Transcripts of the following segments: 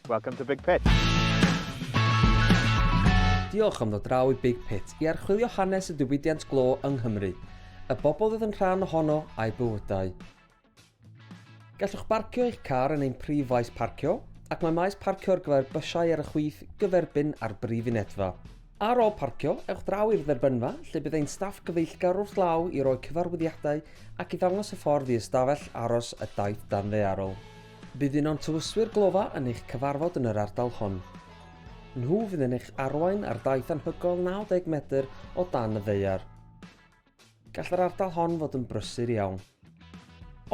Welcome to Big Pit. Diolch am ddod draw i Big Pit i archwilio hanes y diwydiant glo yng Nghymru, y bobl oedd yn rhan ohono a'i bywydau. Gallwch barcio eich car yn ein prif faes parcio, ac mae maes parcio ar gyfer bysiau ar y chwith gyferbyn â'r brif unedfa. Ar ôl parcio, ewch draw i'r dderbynfa, lle bydd ein staff gyfeillgar wrth law i roi cyfarwyddiadau ac i ddangos y ffordd i ystafell aros y daith danddaearol. Bydd un o'n tywyswyr glofa yn eich cyfarfod yn yr ardal hon. Nhw fydd yn eich arwain ar daith anhygoel 90 metr o dan y ddaear. Gall yr ardal hon fod yn brysur iawn.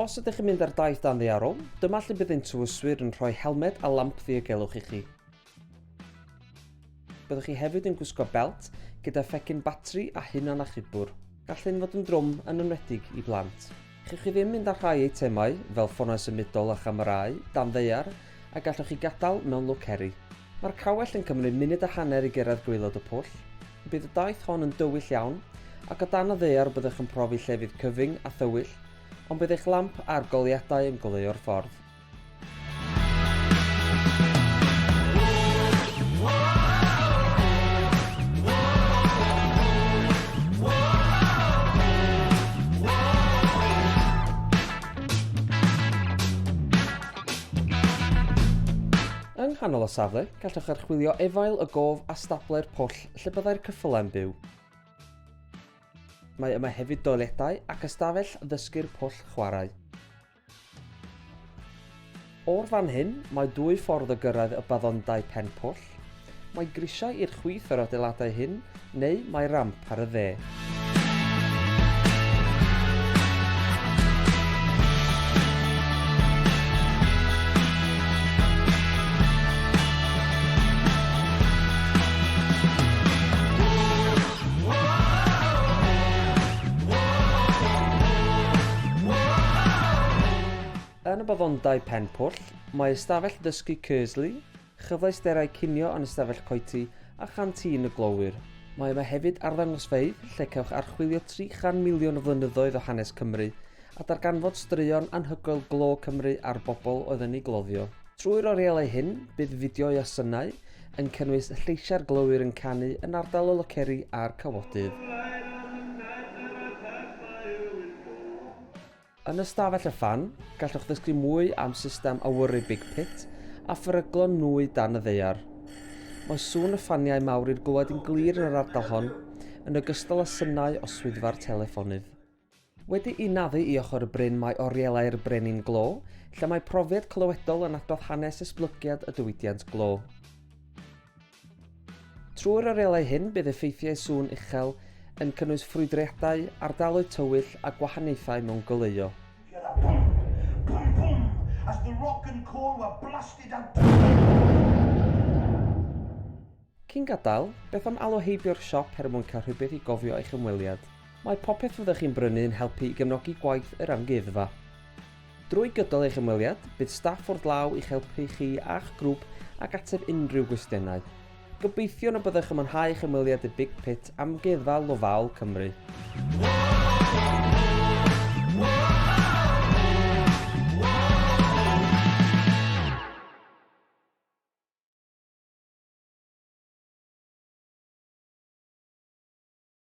Os ydych yn mynd ar daith dan ddaearol, dyma lle bydd ein tywyswyr yn rhoi helmed a lamp ddiogelwch i chi. Byddwch chi hefyd yn gwisgo belt gyda phecyn batri a hunan achubwr. Gall hyn fod yn drwm yn enwedig i blant. Chewch chi ddim mynd â rhai eitemau, fel ffonau symudol a chamerâu, dan ddaear, a gallwch chi gadael mewn lwc heri. Mae'r cawell yn cymryd munud a hanner i gyrraedd gwaelod y pwll. Bydd y daith hon yn dywyll iawn, ac o dan y ddaear byddwch yn profi llefydd cyfyng a thywyll, ond bydd eich lamp a'r goleuadau yn goleuo'r ffordd. Yng nghanol y safle, gallwch archwilio efail y gof a stable'r pwll lle byddai'r cyffylau'n byw. Mae yma hefyd doiledau ac ystafell ddysgu'r pwll chwarae. O'r fan hyn, mae dwy ffordd o gyrraedd y baddondai pen pwll. Mae grisiau i'r chwith o'r adeiladau hyn neu mae ramp ar y dde. Yn y Baddondai Pen-pwll, mae ystafell ddysgu Kearsley, Chyfleusterau cinio yn Ystafell Coety a Chantin y Glowyr. Mae yma hefyd arddangosfeydd lle cewch archwilio 300 miliwn o flynyddoedd o hanes Cymru a darganfod straeon anhygoel glo Cymru a'r bobl oedd yn ei gloddio. Trwy'r orielau hyn, bydd fideoau a synau, yn cynnwys lleisiau'r glowyr yn canu yn ardal y loceri a'r cawodydd. Yn Ystafell y Fan, gallwch ddysgu mwy am system awyru Big Pit a pheryglon nwy dan y ddaear. Mae sŵn y ffaniau mawr i'r glywed yn glir yn yr ardal hon, yn ogystal â synau o swyddfa'r teleffonydd. Wedi'i naddu i ochr y bryn mae Orielau'r Brenin Glo, lle mae profiad clywedol yn adrodd hanes esblygiad y diwydiant glo. Trwy'r arelau hyn bydd effeithiau sŵn uchel yn cynnwys ffrwydriadau, ardaloedd tywyll a gwahaniaethau mewn goleuo. Gyda bum, bum, bum, as the rock and coal were blasted out the Cyn gadael, beth am alw heibio'r siop her mwyn cael rhywbeth i gofio eich ymweliad? Mae popeth fyddwch chi'n brynu yn helpu i gefnogi gwaith yr amgueddfa. Drwy gydol eich ymweliad, bydd staff wrth law i'ch helpu chi a'ch grŵp ac ateb unrhyw gwestiynau. Gobeithiwn y byddwch yn mwynhau eich ymweliad y Big Pit Amgueddfa Lofaol Cymru.